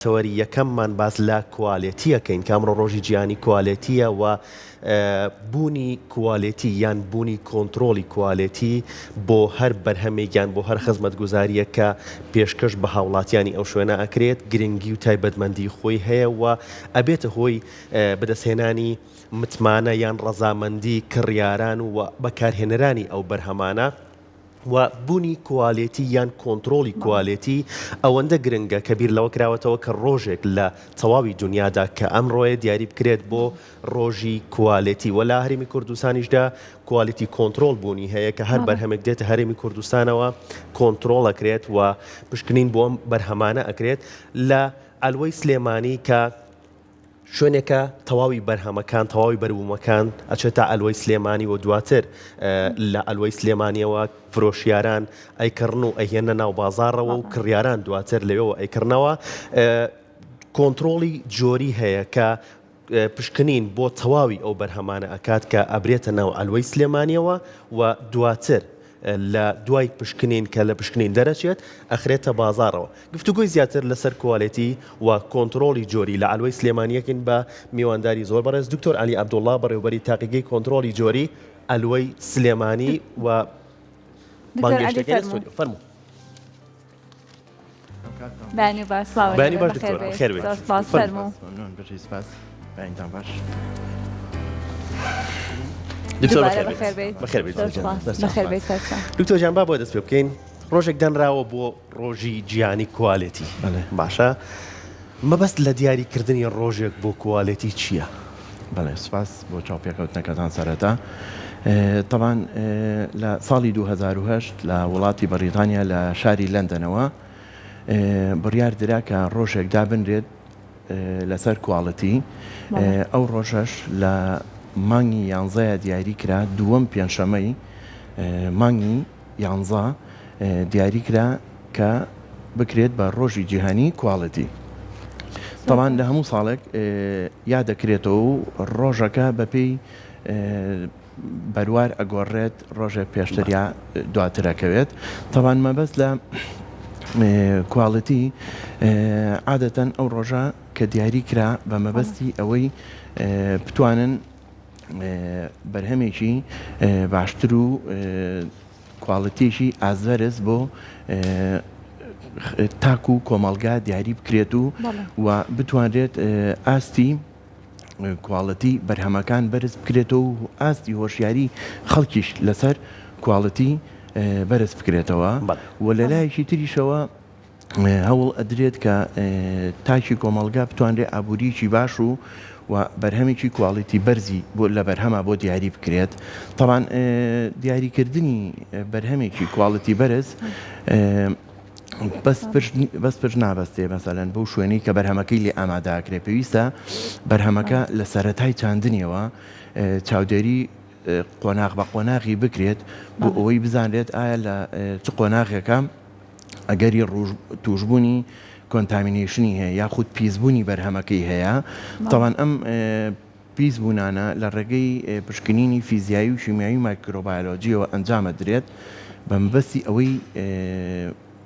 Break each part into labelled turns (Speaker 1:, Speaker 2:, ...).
Speaker 1: تەوەری یەکەممان باس لە کوالێتی ئەکەین کە ئەمڕۆ ڕۆژی جیهانی کوالێتییە و بوونی کوالێتی یان بوونی کۆنترۆڵی کوالێتی بۆ هەر بەرهەمێک یان بۆ هەر خزمەتگوزارییەک کە پێشکەش بە هاوڵاتیانی ئەو شوێنە ئەکرێت گرنگی و تایبەتمەندی خۆی هەیە و ئەبێتە هۆی بەدەستهێنانی متمانە یان ڕەزامەندی کڕیاران و بەکارهێنەرانی ئەو بەرهەمانە. و بونی کوالێتی یان کۆنترۆڵی کوالێتی ئەوەندە گرنگە کە بیر لەوە کراوەتەوە کە ڕۆژێک لە تەواوی دونیادا کە ئەمڕۆیە دیاری بکرێت بۆ ڕۆژی کوالێتی وە لا هەرێمی کوردستانیشدا کوالێتی کۆنترۆڵ بونی هەیە کە هەر بەڵێ بەرهەمێک دێتە هەرێمی کوردستانەوە کۆنترۆڵ ئەکرێت و پشکنین بۆ ئەم بەرهەمانە ئەکرێت لە عەلوەی سلێمانی کە شوێنێکە تەواوی بەرهەمەکان تەواوی بەروومەکان ئەچێتە ئەلوەی سلێمانی و دواتر لە ئەلوەی سلێمانیەوە فرۆشیاران ئەیکڕن و ئەهێنە ناو بازارەوە و کڕیاران دواتر لەوێەوە ئەیکردنەوە کۆنتترۆڵی جۆری هەیە کە پشکنین بۆ تەواوی ئەو بەرهەمانە ئەکات کە ئەبرێتە ناو ئەلوەی سلێمانیەوە و دواتر لە دوای پشکنین کە لە پشکنین دەرەچێت ئەخرێتە بازاڕەوە. گفتوگۆی زیاتر لەسەر کوالێتی و کۆنتڕۆڵی جۆری لە عەلوەی سلێمانی یەکین بە میوانداری زۆر بەڕێز دکتۆر عەلی عەبدوڵا بەڕێوبەری تاقیگەی کۆنتڕۆڵی جۆری عەلوەی سلێمانی و دکتۆر عەلی فەرموون.
Speaker 2: بەێنی باش بەێنی باش
Speaker 1: خێر
Speaker 2: فەرمو
Speaker 1: دکتۆر جان با بۆ دەست پێ بکەین ڕۆژێک دەنراوە بۆ ڕۆژی جیانی کوالێتی باشە مەبەست لە دیاریکردنی ڕۆژێک بۆ کوالێتی چییە؟ بەڵێ سوپاس
Speaker 3: بۆ چاوپێکەوتنەکەتان سەرەتا تەبان لە ساڵی 2010 لە وڵاتی بەریتانیا لە شاری لەندەنەوە بڕیار درا کە ڕۆژێک دابنرێت لەسەر کواڵەتی ئەو ڕۆژەش لە مانگی یانزەیە دیاری کرا دووەم پێنجشەمەی مانگی یانزە، دیاری کرا کە بکرێت بە ڕۆژی جیهانی کواڵێتی. تاڵان لە هەموو ساڵێک یا دەکرێتەوە و ڕۆژەکە بەپێی بەروار ئەگۆڕێت ڕۆژێک پێشتر یا دواترەکەوێت تاوان مەبەست لە کواڵەتی عادەتەن ئەو ڕۆژە کە دیاری کرا بە مەبەستی ئەوەی بتوانن بەرهەمێکی باشتر و کواڵەتێکی ئازەرز بۆ تاک و کۆمەلگا دیاری بکرێت و و بتوانرێت ئاستی کواڵەتی بەرهەمەکان بەرز بکرێتەوە و ئاستی هۆشیاری خەڵکیش لەسەر کواڵەتی بەرز بکرێتەوە و لە لایەکی تریشەوە هەوڵ ئەدرێت کە تاکی کۆمەڵگا بتوانرێت ئابووریکی باش و و بەرهەمێکی کواڵیتی بەرزی بۆ لە بەرهەما بۆ دیاری بکرێت تاوان دیاریکردنی بەرهەمێکی کواڵەتی بەرز بەس پرش نابەستێ مەسەلەن بۆ شوێنی کە بەرهەمەکەی لێ ئاماداکرێ پێویستە بەرهەمەکە لە سەتای چاندنیەوە چاودێری قۆناغ بە قۆناغی بکرێت بۆ ئەوەی بزانرێت ئایا لە چ قۆناغێکە ئەگەری توشبوونی کۆنتامینەیشنی هەیە یاخود پیسبوونی بەرهەمەکەی هەیە تاوان ئەم پیس بوونانە لە ڕێگەی پشکنینی فیزیایی و شیمیایی مایکرۆبایلۆجیەوە ئەنجامە درێت بە مەبەستی ئەوەی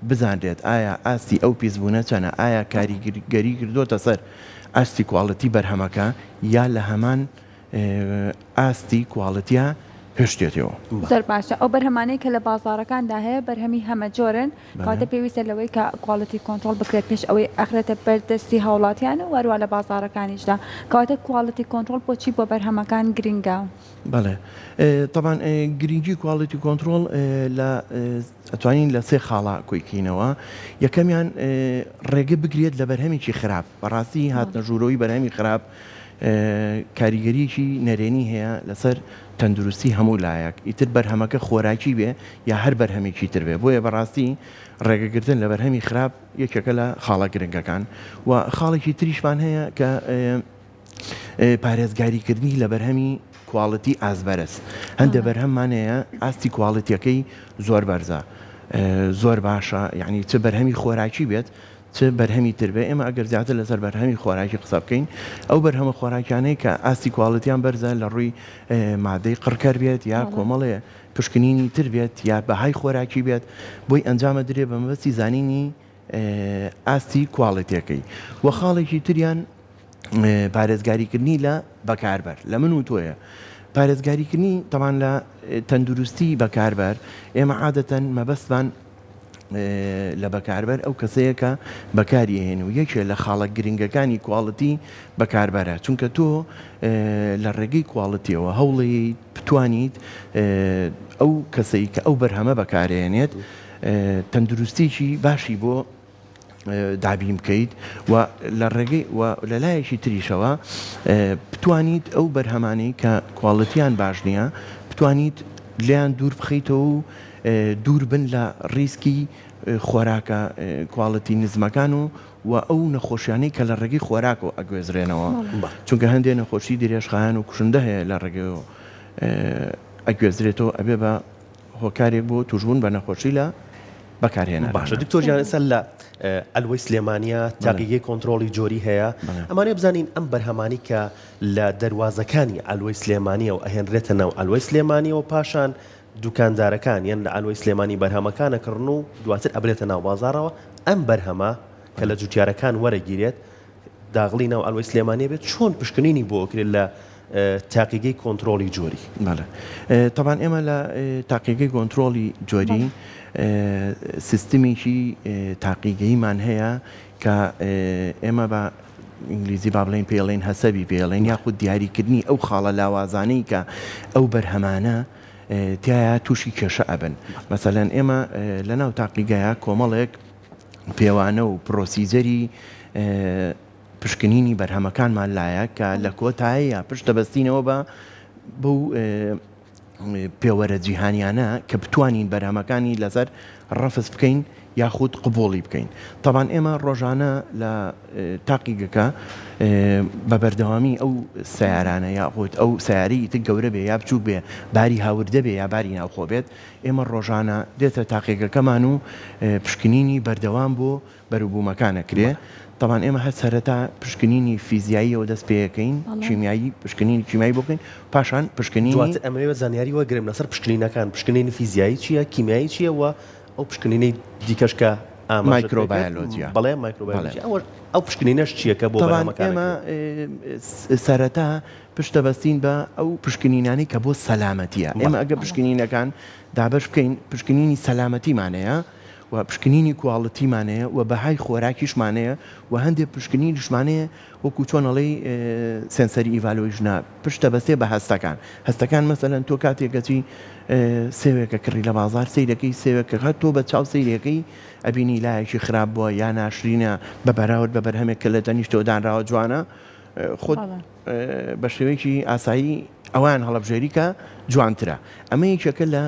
Speaker 3: بزانرێت ئایا ئاستی ئەو پیسبوونە چەنە ئایا کاریگەری کردوتە سەر ئاستی کوواڵەتی بەرهەمەکە یا لە هەمان ئاستی کواڵتیا هێشتێتەوە. زۆر باشە ئەو
Speaker 2: بەرهەمانەی کە لە بازاڕەکاندا هەیە بەرهەمی هەمە جۆرن کەواتە پێویستە لەوەی کە کواڵتی کۆنترۆڵ بکرێت پێش ئەوەی ئەخرێتە بەر دەستی هاوڵاتیان و هەروە لە بازاڕەکانیشدا کەواتە کواڵتی کۆنترۆڵ بۆچی بۆ بەرهەمەکان گرنگە؟ بەڵێ
Speaker 3: تەبان گرنگی کواڵتی کۆنترۆڵ لە ئەتوانین لە سێ خاڵا کۆیکینەوە یەکەمیان ڕێگە بگرێت لە بەرهەمێکی خراپ بەڕاستی هاتنە ژوورەوەی بەرهەمی خراپ کاریگەریەکی نەرێنی هەیە لەسەر تەندروستی هەموو لایەک ئیتر بەرهەمەکە خۆراکی بێ یا هەر بەرهەمێکی تر بێ بۆیە بەڕاستی ڕێگەگرتن لە بەرهەمی خراپ یەکێکە لە خاڵە گرنگەکان و خاڵێکی تریشمان هەیە کە پارێزگاریکردنی لە بەرهەمی کواڵەتی ئازبەرز هەندە بەرهەممانەیە ئاستی کواڵەتەکەی زۆر بەرزە زۆر باشە یعنی چ بەرهەمی خۆراکی بێت چ بەرهەمی تر بێت، ئێمە ئەگەر زیاتر لەسەر بەرهەمی خۆراکی قسە بکەین، ئەو بەرهەمە خۆراکیانەی کە ئاستی کواڵیتیان بەرزە لە ڕووی مادەی قڕکەر بێت یا کۆمەڵێ پشکنینی تر بێت یا بەهای خۆراکی بێت بۆی ئەنجام ئەدرێت بە مەبەستی زانینی ئاستی کواڵیتیەکەی و خاڵێکی تریان پارێزگاریکردنی لە بەکاربەر لە من و تۆیە پارێزگاریکردنی تەمان لە تەندروستی بەکاربەر ئێمە عادەتەن مەبەستمان لە بەکاربەر ئەو کەسەیە کە بەکاریهێن و یەکێ لە خاڵە گرنگەکانی کواڵەتی بەکاربەرە چونکە تۆ لە ڕێگەی کواڵەتیەوە هەوڵی بتوانیت ئەو کەسەی کە ئەو بەرهەمە بەکارێنێت تەندروستێکی باشی بۆ دابین بکەیت و لە ڕێگەی و لە لایەکی تریشەوە بتوانیت ئەو بەرهەمانەی کە کواڵتیان باش نییە بتوانیت لیان دوور بخیتەوە و دوور بن لە ڕیسکی خۆراکە کواڵەتی نزمەکان و و ئەو نەخۆشیانەی کە لە ڕێگەی خۆراکەوە ئەگوێزرێنەوە چونکە هەندێک نەخۆشی درێژخایەن و کوشندە هەیە لە ڕێگەیەوە ئەگوێزرێتەوە ئەبێ بە هۆکارێک بۆ توشبوون بە نەخۆشی لە بەکارهێنەراندا. باشە دکتۆر گیان ئێستا
Speaker 1: لە عەلوەی سلێمانیە تاقیگەی کۆنترۆڵی جۆری هەیە ئەمانەیە بزانین ئەم بەرهەمانی کە لە دەروازەکانی عەلوەی سلێمانیەوە ئەهێنرێتە ناو عەلوەی سلێمانیەوە پاشان دوکاندارەکان یان لە عەلوەی سلێمانی بەرهەمەکانە کڕن و دواتر ئەبرێتە ناو بازاڕەوە ئەم بەرهەمە کە لە جوتیارەکان وەرەگیرێت داغڵی ناو عەلوەی سلێمانیە بێت چۆن پشکنینی بۆ ئەکرێت لە تاقیگەی کۆنترۆڵی جۆری؟ بەڵێ تەبان
Speaker 3: ئێمە لە تاقیگەی گۆنترۆڵی جۆری سیستمێکی تاقیگەیمان هەیە کە ئێمە بە ئینگلیزی با بڵێن پێڵێن هەسەبی پێڵێن یاخود دیاریکردنی ئەو خاڵە لاوازانەی کە ئەو بەرهەمانە تایە تووشی کێشە ئەبن مەسەلەن ئێمە لە ناو تاقیگەیە کۆمەڵێک پێوانە و پرۆسیجەری پشکنینی بەرهەمەکانمان لایە کە لە کۆتاییا پشت دەبەستینەوە بە بەو پێوەرە جیهانیانە کە بتوانین بەرهەمەکانی لەسەر ڕەفز بکەین یاخود قوبوڵی بکەین تاوان ئێمە ڕۆژانە لە تاقیگەکە بە بەردەوامی ئەو سیارانە یاخود ئەو سیاری تر گەورە بێ یا بچووک بێ باری هاوردە بێ یا باری ناوخۆ بێت ئێمە ڕۆژانە دێتە تاقیگەکەمان و پشکنینی بەردەوام بۆ بەروبوومەکان ئەکرێ، تەبعەن ئێمە هەر سەرەتا پشکنینی فیزیاییەوە دەست پێەکەین، کیمیایی پشکنینی کیمیایی بۆ بکەین، پاشان پشکنینی. دواتر ئەمەوێت زانیاری وەرگرم
Speaker 1: لەسەر پشکنینەکان، پشکنینی فیزیایی چییە، کیمیایی چییە و ئەو پشکنینەی دیکەش کە ئاماژەت پێ کرد، بەڵێ مایکرۆبایۆلۆجیا، ئەو پشکنینەش چییە کە بۆ بەرهەمەکان ئەکرێ؟ تەبعەن ئێمە
Speaker 3: سەرەتا پشت دەبەستین بە ئەو پشکنینانەی کە بۆ سەلامەتییە، ئێمە ئەگەر پشکنینەکان دابەش بکەین، پشکنینی سەلامەتیمان هەیە و پشکنینی کواڵتیمان هەیە و بەهای خۆراکیشمان هەیە و هەندێک پشکنینیشمان هەیە وەکو چۆن ئەڵێی سێنسەری ئیڤالۆیشنە پشت دەبەستێ بە هەستەکان، هەستەکان مەسەلەن تۆ کاتێک گەچی سێوێکە کڕی لە بازار سەیرەکەی سێوێکە هەر تۆ بە چاو سەیرەکەی ئەبینی لایەکی خراپ بووە یا ناشرینە بە بەراورد بە بەرهەمێک کە لە تەنیشتەوە دانراوە جوانە خۆت بە شێوەیەکی ئاسایی ئەوان هەڵەبژێری کە جوانترە ئەمە یەکێکە لە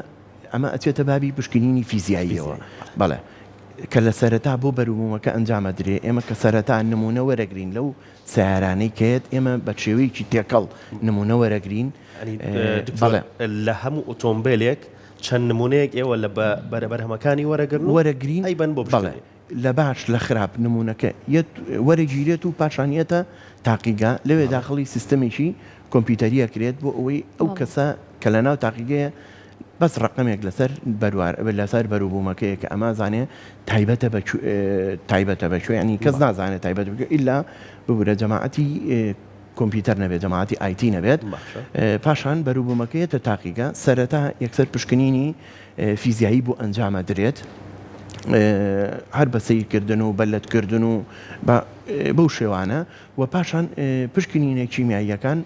Speaker 3: ئەمە ئەچێتە بابی پشکنینی فیزیاییەوە بەڵێ کە لە سەرەتا بۆ بەروبوومەکە ئەنجامە درێ ئێمە کە سەرەتا نمونە وەرەگرین لەو سیارانەی کەێت ئێمە بە شێوەیەکی تێکەڵ نمونە وەرەگرین بەڵێ
Speaker 1: لە هەموو ئۆتۆمبیلێک چەند نمونەیەک ئێوە لە بەرەبەرهەمەکانی وەرەگرن وەرەگرین ئەی بن بۆ بڵێ
Speaker 3: لە باش لە خراپ نموونەکە یەت وەرەگیرێت و پاشان یەتە تاقیگە، لەوێ داخڵی سیستەمێکی کۆمپیوتەری ئەکرێت بۆ ئەوەی ئەو کەسە کە لە ناو تاقیگەیە بەس ڕەقەمێک لەسەر بەروار لەسەر بەروبوومەکەیە کە ئەما زانێ تایبەتە بە تایبەتە بە کوێیانی کەس نازانێت تایبەت بکە ئیلا ببورە جەماعەتی کۆمپیوتەر نەبێت جەماعەتی ئایتی نەبێت پاشان بەروبوومەکەیەتە تاقیگە سەرەتا یەکسەر پشکنینی فیزیایی بۆ ئەنجامەدرێت هەر بە سەیرکردن و بە لەتکردن و بەو شێوانە و پاشان پشکنینە کیمیاییەکان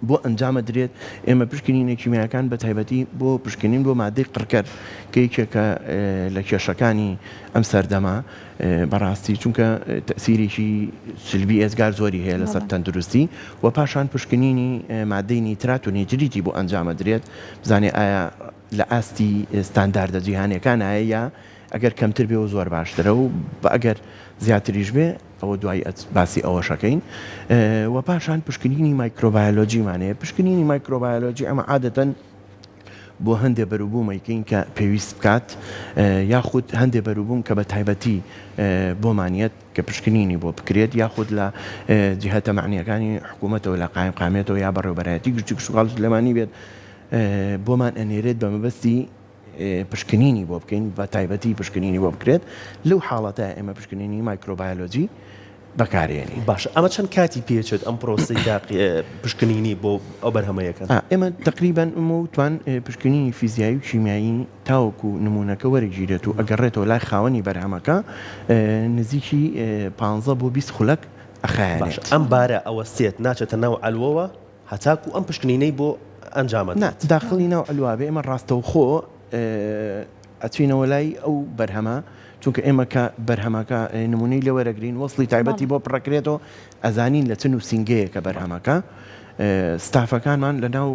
Speaker 3: بۆ ئەنجامە درێت ئێمە پشکنینە کیمیاکان بە تایبەتی بۆ پشکنین بۆ مادەی قڕکەر کە یەکێکە لە کێشەکانی ئەم سەردەما بەڕاستی چونکە تەسیرێکی سلبی ئێزگار زۆری هەیە لەسەر تەندروستی و پاشان پشکنینی مادەی نیترات و نیتریتی بۆ ئەنجامە درێت بزانێ ئایا لە ئاستی ستانداردە جیهانیەکانایە یا ئەگەر کەمتر بێ و زۆر باشترە و بە ئەگەر زیاتریش بێ ئەوە دوای ئەچ باسی ئەوەش ئەکەین وە پاشان پشکنینی مایکرۆبایۆلۆجیمان هەیە پشکنینی مایکرۆبایۆلۆجی ئەمە عادەتەن بۆ هەندێ بەروبووم ئەیکەین کە پێویست بکات یاخود هەندێ بەروبووم کە بە تایبەتی بۆمانیەت کە پشکنینی بۆ بکرێت یاخود لە جهتە مەعنییەکانی حکوومەتەوە لە قایمقامیەتەوە یا بەڕێوەبەرایەتی گشتی کشتوکاڵ و سلێمانی بێت بۆمان ئەنێرێت بە مەبەستی پشکنینی بۆ بکەین بە تایبەتی پشکنینی بۆ بکرێت لەو حاڵەتە ئێمە پشکنینی مایکرۆبایۆلۆجی بەکارێنی باش ئەمە چەند
Speaker 1: کاتی پێچێت ئەم پرۆسی تاقی پشکنینی بۆ ئەو بەرهەمەیەکەن ئێمە تقریبان
Speaker 3: ئەمە وتوان پشکنینی فیزیایی و شیمیایی تاوەکو نموونەکە وەرگیرێت و ئەگەڕێتەوە لای خاوەنی بەرهەمەکە نزیکی پانزە بۆ بیست خولەک ئەخایەنێت. باشە ئەم بارە
Speaker 1: ئەوەستێت ناچێتە ناو عەلوەوە هەتاکو ئەم پشکنینەی بۆ ئەنجامەدرێت؟ نا داخڵی ناو عەلوە
Speaker 3: بێ ئێمە ڕاستەوخۆ ئەچینەوە لای ئەو بەرهەمە چونکە ئێمە کە بەرهەمەکە نموونەی لێ وەرەگرین وەسڵی تایبەتی بۆ پڕەکرێتەوە ئەزانین لە چ نووسینگەیەکە بەرهەمەکە، ستافەکانمان لەناو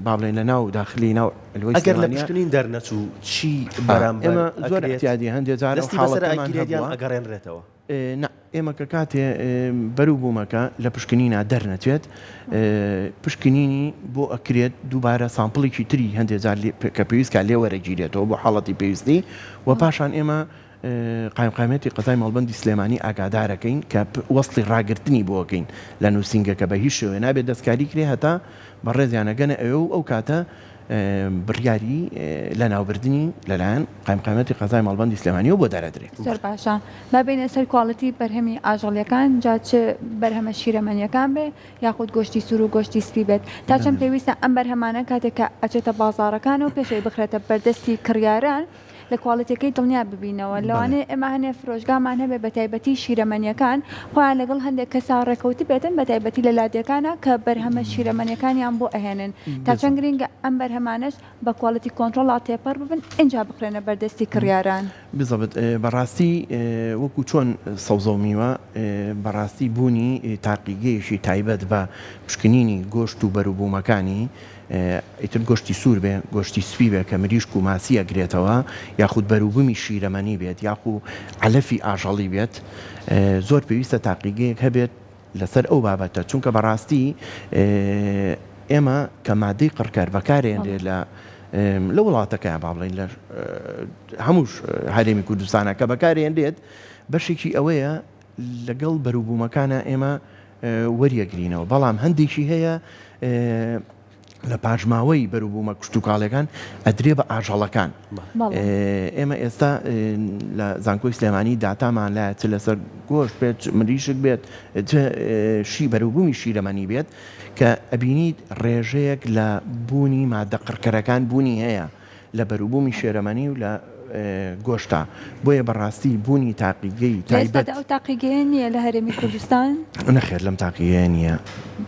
Speaker 3: با بڵێین لەناو داخلی ناو لوەی سلێمانیە. ئەگەر لە پشکنین
Speaker 1: دەرنەچوو چی بەرامبەر ئەکرێت؟ ئێمە زۆر ئیعتیادی
Speaker 3: هەندێ جار ئەو حاڵەتەمان هەبووە.
Speaker 1: ئەگەرێنرێتەوە؟ نا، ئێمە
Speaker 3: کە کاتێ بەرو بوومەکە لە پشکنینا دەرنەچێت، پشکنینی بۆ ئەکرێت دووبارە سامپڵێکی تری هەندێ جار کە پێویست کا لێ وەرەگیرێتەوە بۆ حاڵەتی پێویستی و پاشان ئێمە. قایمقامیەتی قەزای مەڵبەندی سلێمانی ئاگادارەکەین کە وەسڵی ڕاگرتنی بۆکەین لە نووسینگەکە بە هیچ شێوەیە نابێت دەستکاری کرێ هەتا بەڕێزیان ئەگەنە ئەوێ و ئەو کاتە بڕیاری لەناوبردنی لەلایەن قایمقامیەتی قەزای مەڵبەندی سلێمانیەوە بۆ دەرەدرێت زۆر باشە
Speaker 2: با بێنە سەر کواڵیتی بەرهەمی ئاژەڵیەکان جا چ بەرهەمە شیرەمەنیەکان بێ یاخود گۆشتی سوور و گۆشتی سپی بێت تا چەند پێویستە ئەم بەرهەمانە کاتێک کە ئەچێتە بازاڕەکان و پێشەوەی بخرێتە بەردەستی کڕیاران لە کوالیتیەکەی دڵنیا ببینەوە لەوانەیە ئێمە هەنێ فرۆشگامان هەبێ بە تایبەتی شیرەمەنیەکان خۆیان لەگەڵ هەندێک کەسا ڕێکەوت بێتن بە تایبەتی لە لادێکانە کە بەرهەمە شیرەمەنیەکانیان بۆ ئەهێنن تا چەند گرنگە ئەم بەرهەمانەش بە کوالیتی کۆنترۆڵا تێپەڕ ببن ئینجا بخرێنە بەر دەستی کڕیاران. بزەبت
Speaker 3: بەڕاستی وەکو چۆن سەوزەو میوە بەڕاستی بوونی تاقیگەیەکی تایبەت بە پشکنینی گۆشت و بەروبوومەکانی، ئیتر گۆشتی سوور بێ، گۆشتی سپی بێ کە مریشک و ماسی ئەگرێتەوە، یاخود بەروبوومی شیرەمەنی بێت یاخو عەلەفی ئاژەڵی بێت، زۆر پێویستە تاقیگەیەک هەبێت لەسەر ئەو بابەتە، چونکە بەڕاستی ئێمە کە مادەی قڕکەر بەکارێنرێ لە لە وڵاتەکەیان با بڵێین لە هەموو هەرێمی کوردستانە کە بەکارێنرێت بەشێکی ئەوەیە لەگەڵ بەروبوومەکانا ئێمە وەریەگرینەوە، بەڵام هەندێکی هەیە لە پاشماوەی بەروبوومە کشتوکاڵیەکان ئەدرێ بە ئاژەڵەکان. ئێمە ئێستا لە زانکۆی سلێمانی داتامان لە چ لەسەر گۆش بێت مریشک بێت شی بەروبوومی شیرەمەنی بێت کە ئەبینیت ڕێژەیەک لە بوونی مادە قڕکەرەکان بوونی هەیە. لە بەروبوومی شێرەمەنی و لە گۆشتا، بۆیە بە ڕاستی بوونی تاقیگەی تایبەت. لە ئێستادا ئەو تاقیگەیە
Speaker 2: نییە لە هەرێمی کوردستان؟ نەخێر لەم
Speaker 3: تاقیگەیە نییە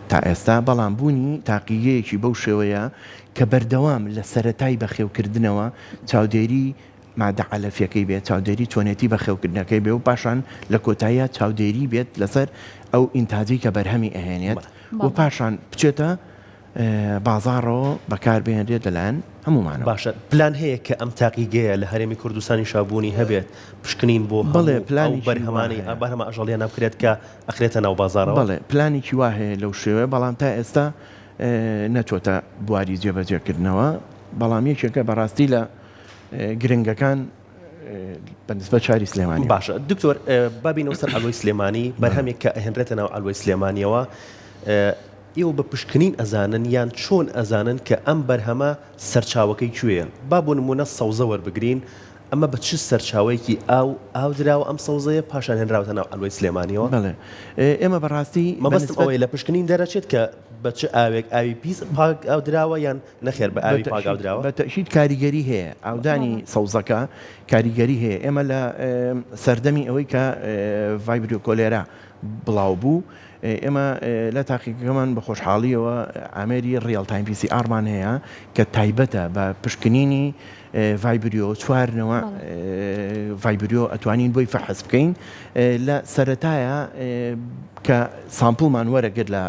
Speaker 3: تا ئێستا، بەڵام بوونی تاقیگەیەکی بەو شێوەیە کە بەردەوام لە سەرەتای بەخێوکردنەوە چاودێری مادە عەلەفیەکەی بێت، چاودێری چۆنێتی بەخێوکردنەکەی بێ و پاشان لە کۆتاییا چاودێری بێت لەسەر ئەو ئینتاجەی کە بەرهەمی ئەهێنێت و پاشان بچێتە. بازاڕەوە بەکار بهێنرێت لەلایەن هەموومانەوە. باشە پلان هەیە
Speaker 1: کە ئەم تاقیگەیە لە هەرێمی کوردستانیشا بوونی هەبێت، پشکنین بۆ بەڵێ هەموو ئەو پلانێکی
Speaker 3: بەرهەمانەی وا هەیە. بەرهەمە
Speaker 1: ئاژەڵییانە بکرێت کە ئەخرێتە ناو بازاڕەوە؟ بەڵێ پلانێکی وا
Speaker 3: هەیە لەو شێوەیە، بەڵام تا ئێستا نەچۆتە بواری جێبەجێکردنەوە، بەڵام یەکێکە بەڕاستی لە گرنگەکان. بە نسبەت شاری سلێمانی. باشە دکتۆر
Speaker 1: با بینەوە سەر عەلوەی سلێمانی، بەرهەمێک کە ئەهێنرێتە ناو عەلوەی سلێمانیەوە، ئێوە بە پشکنین ئەزانن یان چۆن ئەزانن کە ئەم بەرهەمە سەرچاوەکەی کوێیە؟ با بۆ نموونە سەوزە وەربگرین، ئەمە بە چ سەرچاوەیەکی ئاو ئاو دراوە ئەم سەوزەیە پاشان هێنراوەتە ناو عەلوەی سلێمانیەوە؟ بەڵێ،
Speaker 3: ئێمە بەڕاستی. مەبەستم ئەوەیە لە پشکنین
Speaker 1: دەرەچێت کە بە چ ئاوێک، ئاوی پیس پاک ئاو دراوە یان نەخێر بە ئاوی پاک ئاودراوە. بە تەئکید کاریگەری
Speaker 3: هەیە ئاودانی سەوزەکە کاریگەری هەیە ئێمە لە سەردەمی ئەوەی کە ڤایبریۆ کۆلێرا بڵاو بوو ئێمە لە تاقیگەکەمان بە خۆشحاڵیەوە ئامێری ڕیاڵ تایم پیسی ئاڕمان هەیە کە تایبەتە بە پشکنینی ڤایبریۆ چوار نەوەع ڤایبریۆ ئەتوانین بۆی فەحس بکەین لە سەرەتایە کە سامپڵمان وەرەگرت لە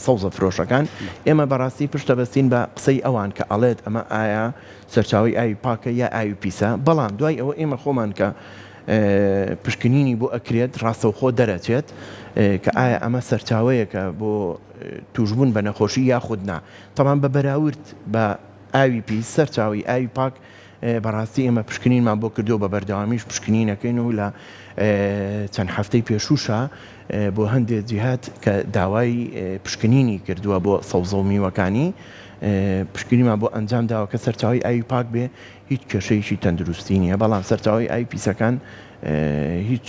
Speaker 3: سەوزە فرۆشەکان ئێمە بەڕاستی پشتە بەستین بە قسەی ئەوان کە ئەڵێت ئەمە ئایا سەرچاوی ئاوی پاکە یا ئاوی پیسە بەڵام دوای ئەوە ئێمە خۆمان کە پشکنینی بۆ ئەکرێت ڕاستەوخۆ دەرەچێت کە ئایا ئەمە سەرچاوەیەکە بۆ توشببوون بە نەخۆشی یاخود نا تەمان بە بەراورد بە ئاوی پیس، سەرچاوەی ئاوی پاک، بەڕاستی ئێمە پشکنینمان بۆ کردووە، بە بەردەوامیش پشکنینەکەین و لە چەند هەفتەی پێشووشا بۆ هەندێک جیهات کە داوای پشکنینی کردووە بۆ سەوزە و میوەکانی، پشکنینمان بۆ ئەنجام داوە کە سەرچاوەی ئاوی پاک بێ هیچ کێشەیەکی تەندروستی نییە، بەڵام سەرچاوەی ئاوی پیسەکان هیچ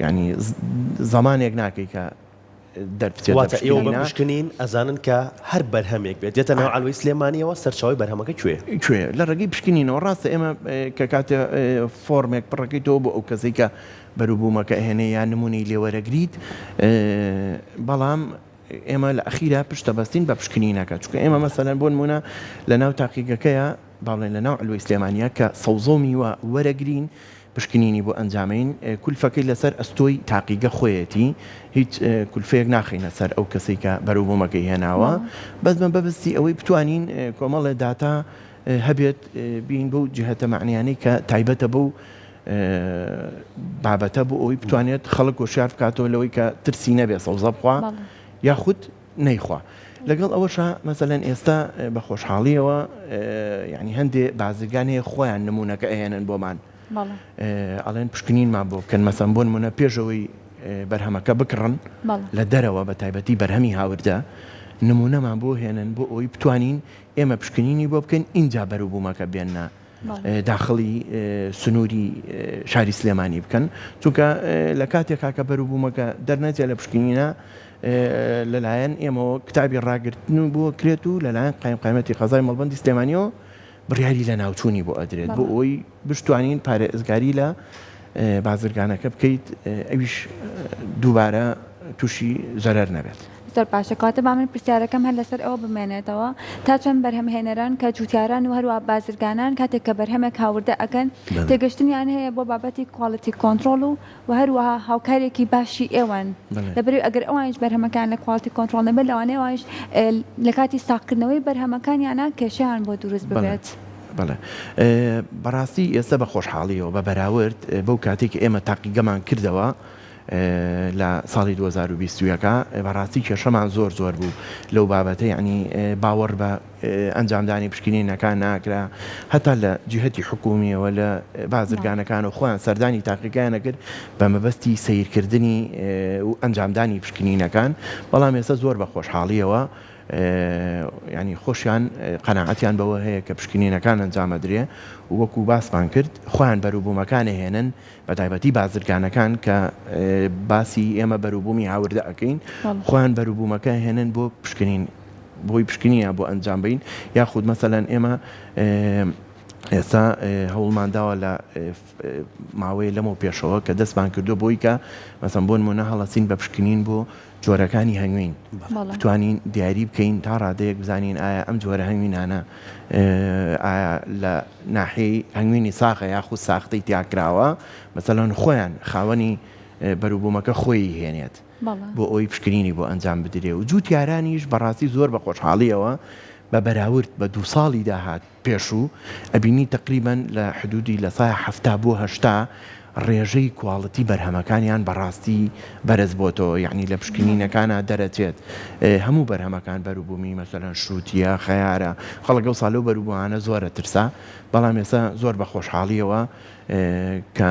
Speaker 3: یانی زەمانێک ناکەی کە. دەربچێت لە
Speaker 1: پشکنینە. واتە ئێوە بە پشکنین ئەزانن کە هەر بەرهەمێک بێت دێتە ناو عەلوەی سلێمانیەوە سەرچاوەی بەرهەمەکە کوێیە؟ کوێیە؟ لە ڕێگەی پشکنینەوە
Speaker 3: ڕاستە ئێمە کە کاتێ فۆرمێک پڕەکەیتەوە بۆ ئەو کەسەی کە بەروبوومەکە ئەهێنێ یا نموونەی لێ وەرەگریت بەڵام ئێمە لە ئەخیرا پشت دەبەستین بە پشکنینەکە چونکە ئێمە مەسەلەن بۆ نموونە لە ناو تاقیگەکەیە با بڵێین لە ناو عەلوەی سلێمانیە کە سەوزە و میوە وەرەگرین پشکنینی بۆ ئەنجامەین کولفەکەی لەسەر ئەستۆی تاقیگە خۆیەتی هیچ کولفەیەک ناخەینە سەر ئەو کەسەی کە بەرەو بۆمەکەی هێناوە بەس بە بەبستی ئەوەی بتوانین کۆمەڵێ داتا هەبێت بین بەو جهتە معنیانەی کە تایبەتە بەو بابەتە بۆ ئەوی بتوانێت خەڵک وشار بکاتەوە لەوەی کە ترسی نەبێ سەوزە بخوا یاخود نەیخوا لەگەڵ ئەوەشا مەسەلەن ئێستا بە خۆشحاڵیەوە یعنی هەندێ بازرگان هەیە خۆیان نمونونەکە ئەهێنن بۆمان ئەڵێن پشکنینمان بۆ بکەن مەسەم بۆن منە پێشەوەی بەرهەمەکە بکڕن لە دەرەوە بە تایبەتی بەرهەمی هاوردە نمونەمان بۆ هێنن بۆ ئەوی بتوانین ئێمە پشکنینی بۆ بکەین اینجا بەروبوومەکە بێننا داخڵی سنووری شاری سلێمانی بکەن، چونکە لە کاتێکا کە بەروبوومەکە دەرنەچێت لە پشکنینە لەلایەن ئێمەوە کتابی ڕاگرتن بۆ کرێت و لەلایەن قایمقامیەتی قەزای مەڵبەندی سلێمانیەوە بڕیاری لەناوچوونی بۆ ئەدرێت بۆ ئەوەی بشتوانین پارێزگاری لە بازرگانەکە بکەیت ئەویش دووبارە تووشی زەرەر نەبێت. زۆر باشە کەواتە با
Speaker 2: من پرسیارەکەم هەر لەسەر ئەوە بمێنێتەوە تا چەند بەرهەمهێنەران کە جووتیاران و هەروەها بازرگانان کاتێک کە بەرهەمێک هاوردە ئەکەن بەڵێ تێگەشتنیان هەیە بۆ بابەتی کوالیتی کۆنتڕۆڵ و وە هەروەها هاوکارێکی باشی ئێوەن بەڵێ. لەبەرئەوەی ئەگەر ئەوانیش بەرهەمەکەیان لە کوالیتی کۆنتڕۆڵ نەبێت لەوانەیە ئەوانیش لە کاتی ساغکردنەوەی بەرهەمەکانیانا کێشەیان بۆ دروست بەڵێ ببێت. بەڵێ
Speaker 3: بەڕاستی ئێستە بە خۆشحاڵیەوە بە بەراورد بەو کاتەی کە ئێمە تاقیگەمان کردەوە لە ساڵی دوو هەزار و بیست و یەک بەڕاستی کێشەمان زۆر زۆر بوو لەو بابەتە یەعنی باوەڕ بە ئەنجامدانی پشکنینەکان ناکرا هەتا لە جیهەتی حکومیەوە لە بازرگانەکان و خۆیان سەردانی تاقیگایانە کرد بە مەبەستی سیرکردنی و ئەنجامدانی پشکنینەکان بەڵام ئێستا زۆر بە خۆشحاڵیەوە ینی خۆشیان قەنەعەتیان بەوە هەیە کە پشکنینەکان ئەنجامەدرێ وەکو باسمان کرد خۆیان بەروبوومەکانە هێنن بەتایبەتی بازرگانەکان کە باسی ئێمە بەروبوومی هاوردە ئەکەین خۆیان بەروبوومەکە هێنن بۆ پشکنین بۆی پشکنینە بۆ ئەنجام بین یاخود مەسەەن ئێمە ئێستا هەوڵمان داوە لە ماوەیە لەمەوە پێشەوە کە دەستمان کردو بۆی کە مەسم بۆن مۆنە هەڵەسین بە پشکنین بۆ جۆرەکانی هەنگوین بتوانین دیاری بکەین تا ڕادەیەک بزانین ئایا ئەم جۆرە هەنگوینانە ئایا لە ناحی هەنگوینی ساخە یاخود ساختەی تیاکراوە مەسەلەن خۆیان خاوەنی بەروبوومەکە خۆی هێنێت بۆ ئەوی پشکنینی بۆ ئەنجام بدرێ و جووتیارانیش بەڕاستی زۆر بە خۆشحاڵیەوە بە بەراورد بە دوو ساڵی داهات پێشوو ئەبینی تەقریبەن لە حدودی لە سایە حەفتا بۆ هەشتا ڕێژەی کواڵتی بەرهەمەکانیان بەڕاستی بەرز بۆتەوە یەعنی لە پشکنینەکانا دەرەچێت هەموو بەرهەمەکان بەروبومی مەسەلەن شوتیە خەیارە خەڵک ئەوسا لەو بەروبومانە زۆر ئەترسا بەڵام ئێسا زۆر بە خۆشحاڵیەوە کە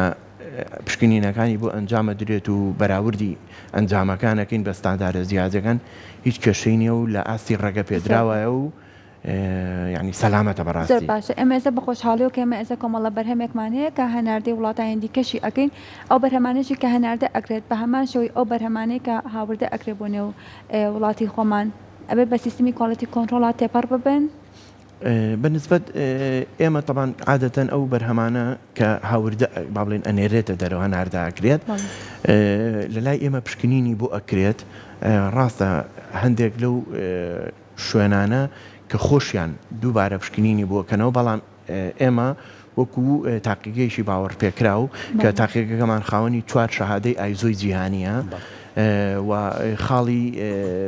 Speaker 3: پشکنینەکانی بۆ ئەنجام ئەدرێت و بەراوردی ئەنجامەکانەکەین بە ستاندارە جیاجەکان هیچ کێشەی نیە و لە ئاستی ڕەگە پێدراوایە و یانی سەلامەتە بەڕاستی. زۆر باشە ئێمە ئێستا
Speaker 2: بەخۆشحاڵیەوە کە ئێمە ئێستا کۆمەڵە بەرهەمێک مان هەیە کە هەناردەی وڵاتانی دیکەشی ئەکەین ئەو بەرهەمانەشی کە هەناردە ئەکرێت بە هەمان شێوەی ئەو بەرهەمانەی کە هاوردە ئەکرێت بۆ نێو وڵاتی خۆمان ئەبێ بە سیستمی کواڵیتی کۆنترۆڵات تێپەڕ ببن بە
Speaker 3: نسبەت ئێمە طبعا عادەتەن ئەو بەرهەمانە کە هاوردە با بڵێن ئەنێرێتە دەرەوە هەناردە ئەکرێت لە لای ئێمە پشکنینی بۆ ئەکرێت ڕاستە هەندێک لەو شوێنانە کە خۆشیان دووبارە پشکنینی بۆکەنەوە، بەڵام ئێمە وەکو تاقیگەیەکی باوەڕپێکراو کە تاقیگەکەمان خاوەنی چوار شەهادەی ئایزۆی جیهانییە و خاڵی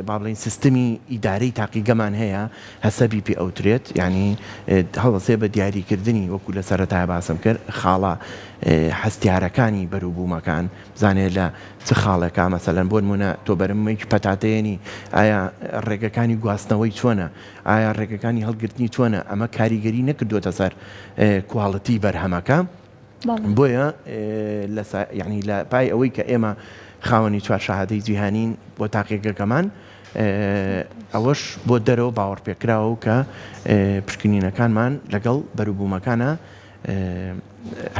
Speaker 3: با بڵێین سیستمی ئیدارەی تاقیگەمان هەیە هەسەبی پێ ئەوترێت یانی هەڵدەسێ بە دیاریکردنی وەکو لە سەرەتای باسم کرد خاڵە هەستیارەکانی بەروبوومەکان بزانێت لە چ خاڵێکا مەسەلەن بۆ نمونە تۆ بەرممەیەکی پەتاتێنی ئایا ڕێگەکانی گواستنەوەی چۆنە ئایا ڕێگەکانی هەڵگرتنی چۆنە ئەمە کاریگەری نەکردوێتە سەر کوالڵتی بەرهەمەکە بۆیە ینی لە پای ئەوەی کە ئێمە خاوەنی چوار شەهادەی جیهانین بۆ تاقیگەکەمان ئەوەش بۆ دەرەوە باوەڕ پێکراوە کە پشکنینەکانمان لەگەڵ بەروبوومەکانە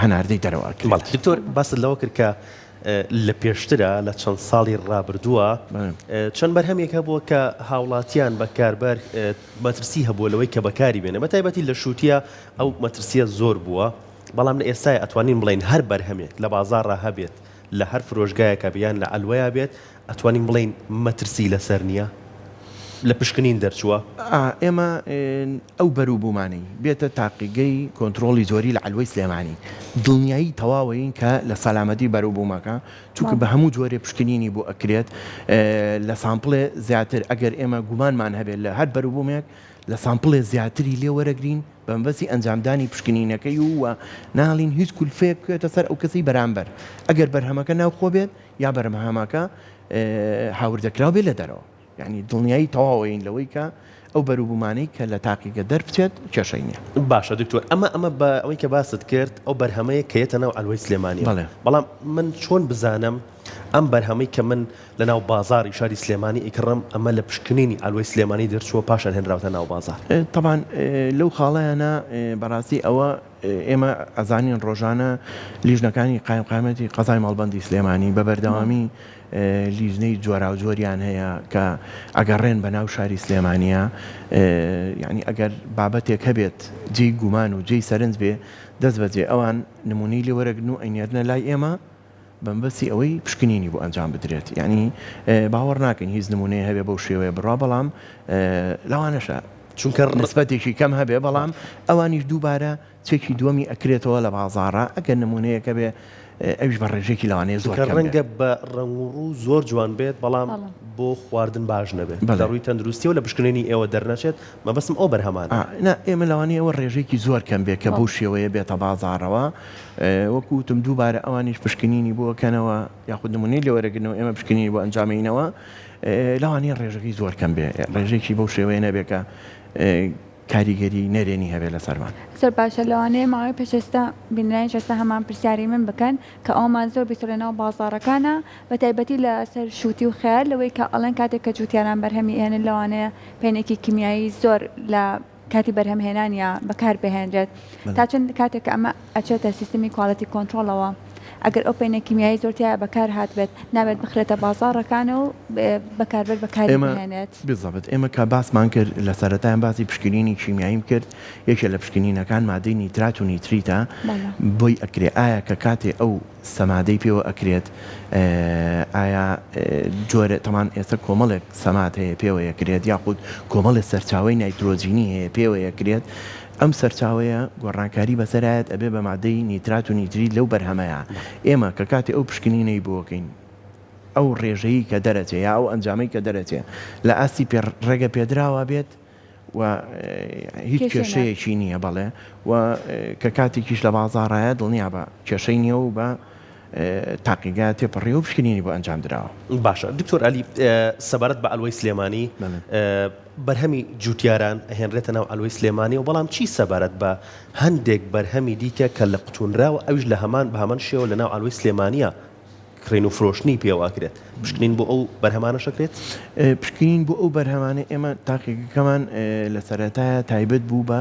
Speaker 3: هەناردەی دەرەوە ئەکرێت. بەڵێ دکتۆر باست
Speaker 1: لەوە کرد کە لە پێشترە لە چەند ساڵی ڕابردووە چەند بەرهەمێک هەبووە کە هاوڵاتیان بەکاربەر مەترسی هەبووە لەوەی کە بەکاری بێنە بە تایبەتی لە شووتە ئەو مەترسیە زۆر بووە بەڵام لە ئێستای ئەتوانین بڵین هەر بەرهەمێک لە بازارڕا هەبێت لە هەر فرۆشگایەکە بیان لە ئەلوەیە بێت ئەتوانین بڵین مەترسی لەسەر نییە لە پشکنین دەرچووە ئێمە
Speaker 3: ئەو بەروبوومانەی بێتە تاقیگەی کۆنترۆڵی زۆری لە عەلوەی سلێمانی دڵنیایی تەواوەین کە لە سەلامەتی بەروبوومەکە چونکە بە هەموو جۆرێ پشکنینی بۆ ئەکرێت لە سامپڵێ زیاتر ئەگەر ئێمە گومانمان هەبێت لە هەر بەروبوومێک لە سامپڵێ زیاتری لێ وەرەگرین بە مەبەستی ئەنجامدانی پشکنینەکەی و وە ناڵین هیچ کولفەیەک بکوێتە سەر ئەو کەسەی بەرامبەر ئەگەر بەرهەمەکە ناوخۆ بێت یا بەرمهەمەکە هاوردەکراو بێت لە دەرەوە. یانی دڵنیایی تەواوین لەوەی کە ئەو بەروبومانەی کە لە تاقیگە دەربچێت کێشەی نیە. باشە دکتۆر ئەمە
Speaker 1: ئەمە بە ئەوەی کە باست کرد ئەو بەرهەمەیە کە یەتە ناو عەلوەی سلێمانیەوە بەڵێ. بەڵام من چۆن بزانم ئەم بەرهەمەی کە من لە ناو بازاری شاری سلێمانی ئەیکڕم ئەمە لە پشکنینی عەلوەی سلێمانی دەرچووە پاشان هێنراوتە ناو بازار؟ تەبان
Speaker 3: لەو خاڵەیانە بەڕاستی ئەوە ئێمە ئەزانین ڕۆژانە لیژنەکانی قایمقامیەتی قەزای مەڵبەندی سلێمانی بە بەردەوامی لیژنەی جۆراوجۆریان هەیە کە ئەگەڕێن بە ناو شاری سلێمانیە یعنی ئەگەر بابەتێک هەبێت جێی گومان و جێی سەرنج بێ دەست بەجێ ئەوان نمونەی لێ وەرەگرن و ئەینێرنە لای ئێمە بەمبەستی ئەوەی پشکنینی بۆ ئەنجام بدرێت یعنی باوەڕ ناکەین هیچ نمونەیە هەبێ بەو شێوەیە بڕا بەڵام لەوانەشە چونکە نسبەتێکی کەم هەبێ بەڵام ئەوانیش دووبارە چەکی دووەمی ئەکرێتەوە لە بازاڕا ئەگەر نمونەیەک هەبێ ئەویش بە ڕێژەیەکی لەوانەیە زۆر کەم بێت. کە ڕەنگە بە ڕەنگ
Speaker 1: و ڕوو زۆر جوان بێت بەڵام بۆ خواردن باش نەبێت لە ڕووی تەندروستیەوە لە پشکنینی ئێوە دەرنەچێت مەبەستم ئەو بەرهەمانە. نا ئێمە لەوانەیە
Speaker 3: ئەوە ڕێژەیەکی زۆر کەم بێت کە بەو شێوەیە بێتە بازاڕەوە وەکو وتم دووبارە ئەوانیش پشکنینی بۆ ئەکەنەوە یاخود نمونەی لێ وەرەگرنەوە ئێمە پشکنینی بۆ ئەنجامەینەوە لەوانەیە ڕێژەکەی زۆر کەم بێت ڕێژەیەکی بەو شێوەیە نەبێت کە کاریگەری نەرێنی هەبێت لەسەرمان. زۆر باشە لەوانەیە
Speaker 2: ماوەی پێش ئێستا بینەرانی جەستە هەمان پرسیاری من بکەن کە ئەوەمان زۆر بیست لەناو بازاڕەکانا بە تایبەتی لە سەر شووتی و خەیار لەوەی کە ئەڵێن کاتێک کە جووتیاران بەرهەمی ئێنن لەوانەیە پەینێکی کیمیایی زۆر لە کاتی بەرهەم هێنانیا بەکار بهێنرێت تا چەند کاتێک کە ئەمە ئەچێتە سیستمی کوالێتی کۆنتڕۆڵەوە ئەگەر ئەو پەینە کیمیایی زۆر تیایا بەکار هاتبێت نابێت بخرێتە بازاڕەکان و بەکاربەر بەکاری بهێنێت. بزەبت ئێمە کە
Speaker 3: باسمان کرد لە سەرەتایان باسی پشکنینی کیمیاییم کرد یەکێ لە پشکنینەکان مادەی نیترات و نیتریتە بۆی ئەکرێ ئایا کە کاتێ ئەو سەمادەی پێوە ئەکرێت ئایا جۆرە تەمان ئێستا کۆمەڵێک سەماد هەیە پێوەیەکرێت یاخود کۆمەڵێ سەرچاوی نایترۆجینی هەیە پێوەیەکرێت ئەم سەرچاوەیە گۆڕانکاری بەسەرایەت ئەبێ بە مادەی نیترات و نیتریت لەو بەرهەمەیا ئێمە کە کاتی ئەو پشکنینەی بۆکەین ئەو ڕێژەی کە دەرەچێ یا ئەو ئەنجامەی کە دەرەچێ لە ئاستی پێ ڕێگە پێدراوا بێت و هیچ کێشەیەکی نییە بەڵێ و کە کاتێکیش لە بازاڕایە دڵنیا بە کێشەی نییە و بە تاقیگا تێپەڕی و پشکنینی بۆ ئەنجام دراوە. باشە دکتۆر ئەلی
Speaker 1: سەبارەت بە عەلوەی سلێمانی. بەرهەمی جووتیاران ئەهێنرێتە ناو عەلوەی سلێمانیەوە، بەڵام چی سەبارەت بە هەندێک بەرهەمی دیکە کە لقتوونراوە ئەویش لە هەمان بە هەمان شێوە لە ناو عەلوەی سلێمانیە کڕین و فرۆشتنی پێوە ئەکرێت، پشکنین بۆ ئەو بەرهەمانەش ئەکرێت؟ پشکنین بۆ
Speaker 3: ئەو بەرهەمانە ئێمە تاقیگەکەمان لە سەرەتایە تایبەت بوو بە.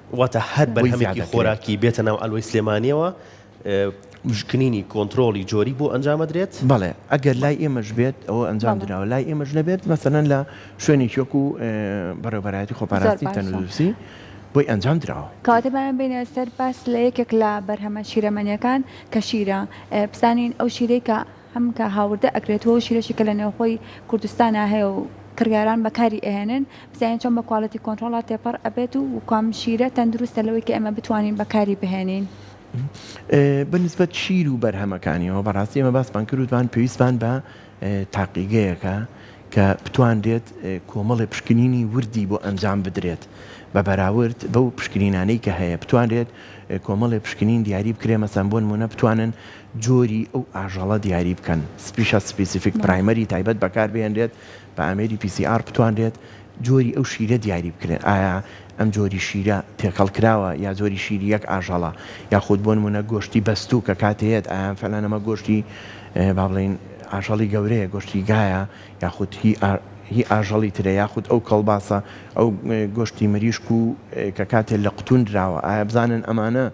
Speaker 3: واتە هەر
Speaker 1: بەرهەمێکی خۆراکی بێتە ناو ئەلوەی سلێمانیەوە پشکنینی کۆنتترۆڵی جۆری بۆ ئەنجامەدرێت بەڵێ ئەگەر لای
Speaker 3: ئێمەش بێت ئەوە ئەنجام دراوە لای ئێمەش نەبێت مەسەەن لە شوێنی چۆک و بەڕێوبەرایەتی خۆپاراستی تەندروستی بۆی ئەنجام دراوە کاتەبایان بینە سەر
Speaker 2: باس لە یەکێک لە بەرهەمە شیرەمەنیەکان کە شیرە بزانین ئەو شیرەی کە هەم کە هاوردە ئەکرێت و ئەو شیرەشی کە لە نێوخۆی کوردستانا هەیە و کڕیاران بەکاری ئەهێنن بزانین چۆن بە کوالیتی کۆنتڕۆڵا تێپەڕ ئەبێت و کام شیرە تەندروستە لەوەی کە ئێمە بتوانین بەکاری بهێنین.
Speaker 3: بە نسبەت شیر و بەرهەمەکانیەوە بە ڕاستی ئێمە باسمان کرد وتمان پێویستمان بە تاقیگەیەکە کە بتوانرێت کۆمەڵێ پشکنینی وردی بۆ ئەنجام بدرێت بە بەراورد بەو پشکنینانەی کە هەیە بتوانرێت کۆمەڵێ پشکنین دیاری بکرێ مەسەن بۆ نمونە بتوانن جۆری ئەو ئاژەڵە دیاری بکەن، Species Specific Primary، تایبەت بەکار بهێنرێت، بە ئامێری PCR بتوانرێت جۆری ئەو شیرە دیاری بکرێت، ئایا ئەم جۆری شیرە تێکەڵ کراوە یا جۆری شیری یەک ئاژەڵە، یاخود بۆ نموونە گۆشتی بەستوو کە کاتی هەیەت ئایا ئەم فەلانە مە گۆشتی با بڵێین ئاژەڵی گەورەیە گۆشتی گایە یاخود هی هی ئاژەڵی ترە یاخود ئەو کەڵباسە ئەو گۆشتی مریشک و کە کاتێ لە قوتوون دراوە ئایا بزانن ئەمانە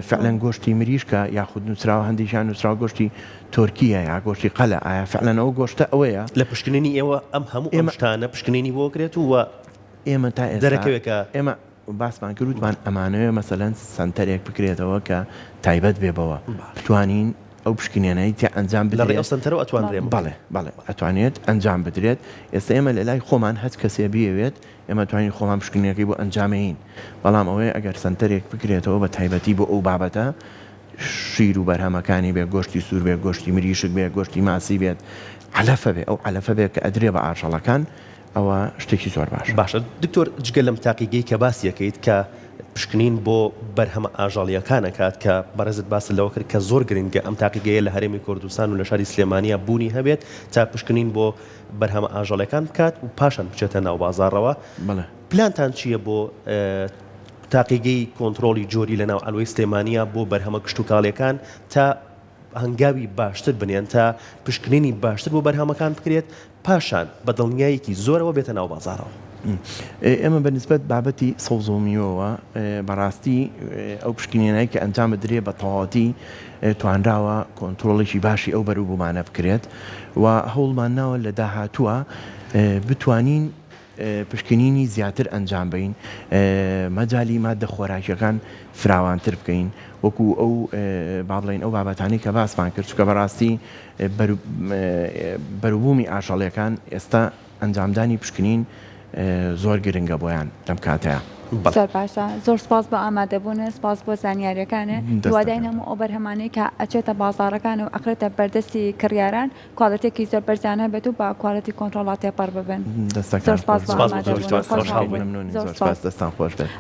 Speaker 3: فعلەن گۆشتی مریشکە یاخود نوسراوە هەندێکیان نوسراوە گۆشتی تۆرکیە یا گۆشتی قەلە ئایا فعلەن ئەو گۆشتە ئەوەیە؟ لە پشکنینی ئێوە
Speaker 1: ئەم هەموو ئەم شتانە پشکنینی بۆ کرێت و ئێمە تا ئێستا
Speaker 3: دەرەکەوێت کە ئێمە باسمان کرد وتمان ئەمانەوێ مەسەلەن سەنتەرێک بکرێتەوە کە تایبەت بێ بەوە بتوانین ئەو پشکنینەی تیا ئەنجام بدرێت. لە ڕێی ئەو سەنتەرەوە ئەتوانرێ؟
Speaker 1: بەڵێ بەڵێ
Speaker 3: ئەتوانێت ئەنجام بدرێت ئێستا ئێمە لە لای خۆمان هەچ کەسێ بیەوێت ئێمە توانیین خۆمان پشکنینەکەی بۆ ئەنجامێین، بەڵام ئەوەی ئەگەر سەنتەرێک بکرێتەوە بە تایبەتی بۆ ئەو بابەتە، شیر و بەرهەمەکانی بێت، گۆشتی سوور بێت، گۆشتی مریشک بێت، گۆشتی ماسی بێت، عەلەفە بێت، ئەو عەلەفە بێت کە ئەدرێت بە ئاژەڵەکان، ئەوە شتێکی زۆر باشە. باشە دکتۆر جگە لەم
Speaker 1: تاقیگەی کە باسیەکەیت کە پشکنین بۆ بەرهەمە ئاژەڵیەکان ئەکات کە بەڕێزت باست لەوە کرد کە زۆر گرنگە ئەم تاقیگەیە لە هەرێمی کوردستان و لە شاری سلێمانیە بوونی هەبێت تا پشکنین بۆ بەرهەمە ئاژەڵێکان بکات و پاشان بچێتە ناو بازاڕەوە پلانتان چییە بۆ تاقیگەی کۆنتترۆلی جۆری لە ناو ئەلوی سلێمانیا بۆ بەرهەمە کشتتوکاڵیەکان تا هەنگاوی باشتر بنێن تا پشکنینی باشتر بۆ بەرهەمەکان بکرێت پاشان بە دڵنیایەکی زۆرەوە بێتە ناو بازارەوە. ئێمە
Speaker 3: بە نسبەت بابەتی سەوزۆمیوەوە بەڕاستی ئەو پشکنینەی کە ئەنجام بدرێ بە تەواتی توانراوە کۆنترۆڵێکی باشی ئەو بەروبوومانە بکرێت و هەوڵمان ناوە لە داهاتووە بتوانین پشکنینی زیاتر ئەنجام بەین مەجای مادە خۆراکیەکان فراوانتر بکەین وەکو ئەو بابلین ئەو بابەتانی کە باسمان کرد چکە بەڕاستی بەروبوومی ئاژەڵەکان ئێستا ئەنجامدانی پشکنین زۆر گرنگە بۆیان لەم کاتەیا. زۆر باشە
Speaker 2: زۆر سپاس بۆ ئامادەبوون سپاس بۆ زانیاریەکانێ دوواداین هەموو ئەو بەرهەمانەی کە ئەچێتە بازارەکان و ئەخرێتە بەردەستی کڕیاران کوالێتێکی زۆر بەرزیان هەبێت و بە کوالێتی کۆنترۆڵا تێپەڕ ببن دەستەکان
Speaker 3: خۆش بێت.